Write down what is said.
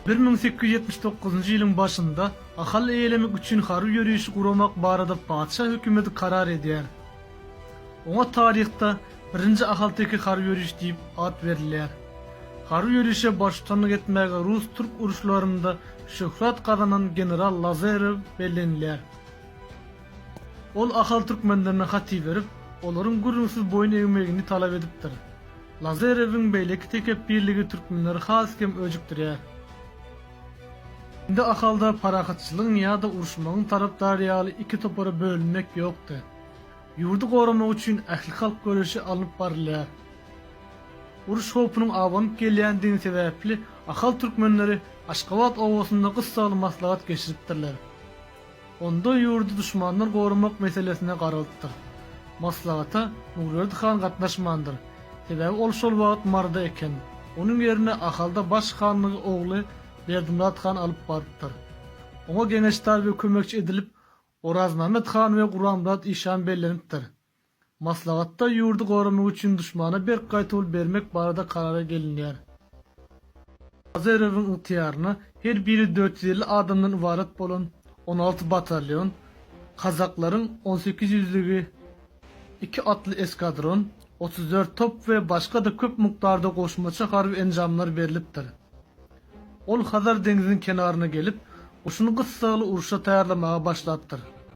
Bir müň sekiz ýüz ýetmiş dokuzynjy ýylyň başynda Ahal eýelemek üçin harby ýörişi guramak barada patyşa hökümeti karar edýär. Oňa taryhda Birinji ahalteke harby ýörişi diýip at berilýär. Harby ýörişe baştutanlyk etmäge rus-türk uruşlarynda şöhrat gazanan general Lazarew bellenilýär. Ol ahal türkmenlerine hat iberip, olaryň gürrüňsiz boýun egmegini talap edipdir. Lazarewiň beýleki tekepbirligi türkmenleri has kem öjükdirýär. Indi Ahalda parahatçylygyň ýa-da uruşmagyň tarapdary ýaly iki topara bölünmek ýokdy. Ýurdy goramak üçin ählihalk göreşi alnyp barylýar. Uruş howpunyň abanyp gelýändigi sebäpli ahal türkmenleri Aşgabat obasynda gyssaly maslahat geçiripdirler. Onda ýurdy duşmandan goramak meselesine garalypdyr. Maslahata Muglerd han gatnaşmandyr. Sebäbi ol şol wagt Maryda eken. Onuň ýerine Ahalda baş hanlygy ogly Berdimyrat han alyp barypdyr. Oňa geňeşdar we kömekçi edilip Orazmämmet han we Guranmyrat işan bellenipdir. Maslahatda ýurdy goramak üçin duşmana berk gaýtawul bermek barada karara gelinýär. Azerowyň ygtyýaryna her biri dört ýüz elli adamdan ybarat bolan on alty batalýon, kazaklaryň on sekiz ýüzlügi, iki atly eskadron, otuz dört top we başga-da köp mukdarda goşmaça harby enjamlar berlipdir. Ol Hazar deňziniň kenaryna gelip, goşuny gyssagly uruşa taýýarlamaga başlapdyr.